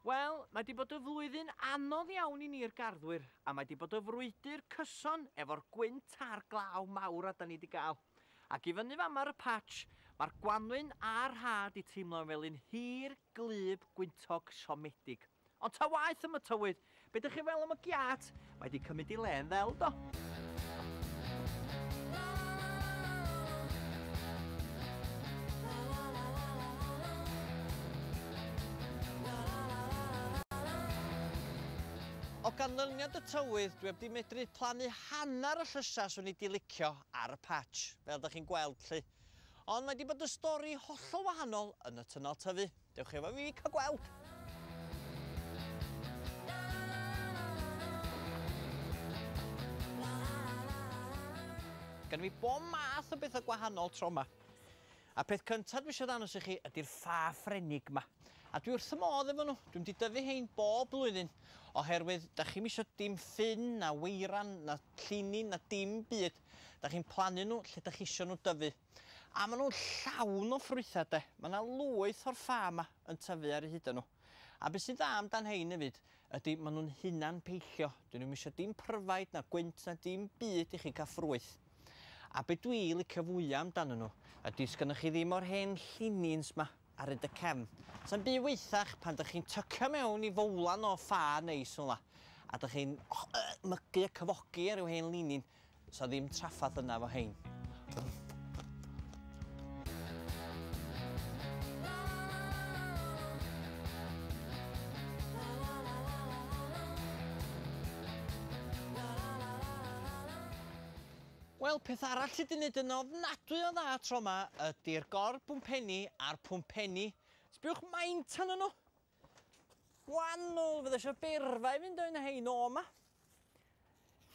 Wel, mae di bod y flwyddyn anodd iawn i ni'r garddwyr, a mae di bod y frwydr cyson efo'r gwynt a'r glaw mawr a da ni di gael. Ac i fyny fan ma'r y patch, mae'r gwanwyn a'r rhad i teimlo'n fel un hir Gwlyb gwyntog siomedig. Ond ta waeth am y tywydd, be dych chi'n feddwl am y giât? Mae 'di cymryd i le'n ddel do! O ganlyniad y tywydd, dwi 'eb 'di medru plannu hanner y llysau 'swn i 'di licio ar y patch, fel dych chi'n gweld 'lly. Ond mae 'di bod yn stori hollol wahanol yn y twnnel tyfu. Dewch efo fi cael gweld! Gynna fi bob math o betha gwahanol tro 'ma. A peth cynta dwi isio ddangos i chi ydi'r ffa Ffrenig 'ma. A dwi wrth fy modd efo nhw. Dwi'm di dyfu hein bob blwyddyn oherwydd 'dach chi'm isio dim ffyn na weiran na llinin na dim byd. Dach chi'n plannu nhw lle dach chi isio nhw dyfu. A maen nhw'n llawn o ffrwythau de. Mae yna lwyth o'r ffa yma yn tyfu ar eu hudo nhw. A beth sy'n dda amdan hein hefyd ydy maen nhw'n hunan peillio. Dyn nhw'm isio dim pryfaid na gwynt na dim byd i chi cael ffrwyth. A be dwi licio fwya amdanyn nhw ydy sgynnoch chi ddim o'r hen llinins ma. ar hyd y cefn. Sa'n byd waethach pan dych chi'n tycio mewn i fowlan o ffa neis fel 'na, a dych chi'n mygu a cyfogi ar ryw hen linyn. Sa ddim traffath yna efo hein. Wel, peth arall sy 'di neud yn ofnadwy o dda tro 'ma ydi'r gor-bwmpenni a'r pwmpenni. Sbïwch maint anyn nhw! Gwanwl, fydda isio beirfa i fynd o un o hein o 'ma.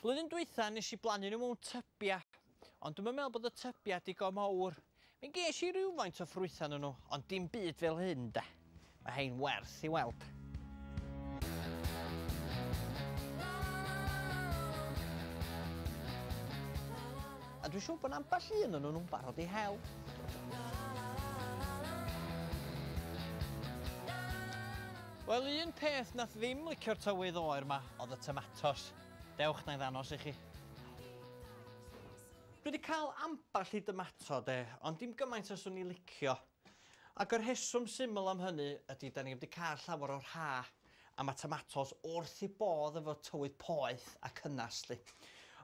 Flwyddyn dwytha nes i blannu nhw mewn tybia, ond dwi'm yn meddwl bod y tybia digon mawr. Mi ges i rywfaint o ffrwytha ynnyn nhw, ond dim byd fel hyn 'de. Mae hein werth i weld. A dwi'n siwr bod 'na ambell un ynnyn nhw'n barod i hel. Wel, un peth nath ddim licio'r tywydd oer 'ma o'dd y tomatos. Dewch, 'na i ddangos i chi. Dwi 'di cael ambell i dymato 'de, ond dim gymaint a 'swn i licio. Ac y rheswm syml am hynny ydi 'dan ni 'eb 'di cael llawer o'r ha am y tomatos wrth eu bodd efo tywydd poeth a cynnes 'lly.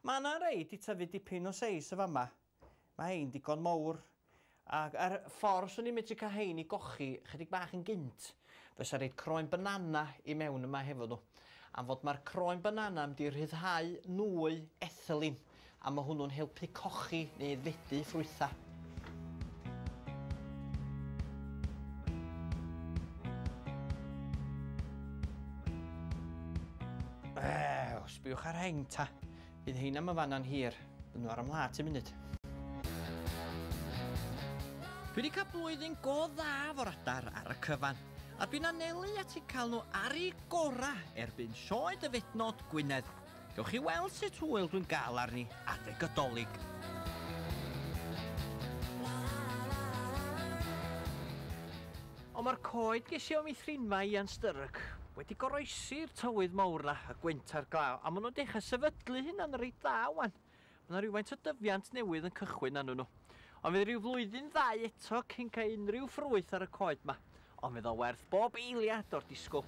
Ma' 'na rei 'di tyfu dipyn o seis yn fama. Ma' hein digon mowr. Ac ar y ffordd 'swn i'n medru cael hein i gochi chydig bach yn gynt. Fysa roid croen banana i mewn yma hefo nhw. Am fod ma'r croen banana yn mynd i rhyddhau nwy ethylene a ma' hwnnw'n helpu cochi neu aeddfedu ffrwytha. Ew, sbiwch ar hein ta. Bydd hein am y fana'n hir. Bydden nhw ar 'y mhlât i munud. Dwi wedi cael blwyddyn go dda fo'r adar ar y cyfan, a dwi'n anelu at eu cael nhw ar eu gorau erbyn sioe Dyfednod Gwynedd. Gewch chi weld sut hwyl dwi'n gael arni adeg y Dolig. Ond mae'r coed gesio am ei thrin 'ma Ian Sturrock wedi goroesi'r tywydd mawr 'na, y gwynt a'r glaw, a maen nhw'n dechrau sefydlu hunan reit dda 'wan. Mae 'na rywfaint o dyfiant newydd yn cychwyn arnyn nhw. Ond fydd rhyw flwyddyn ddau eto cyn cael unrhyw ffrwyth ar y coed 'ma, ond fydd o werth bob eiliad o'r disgwyl.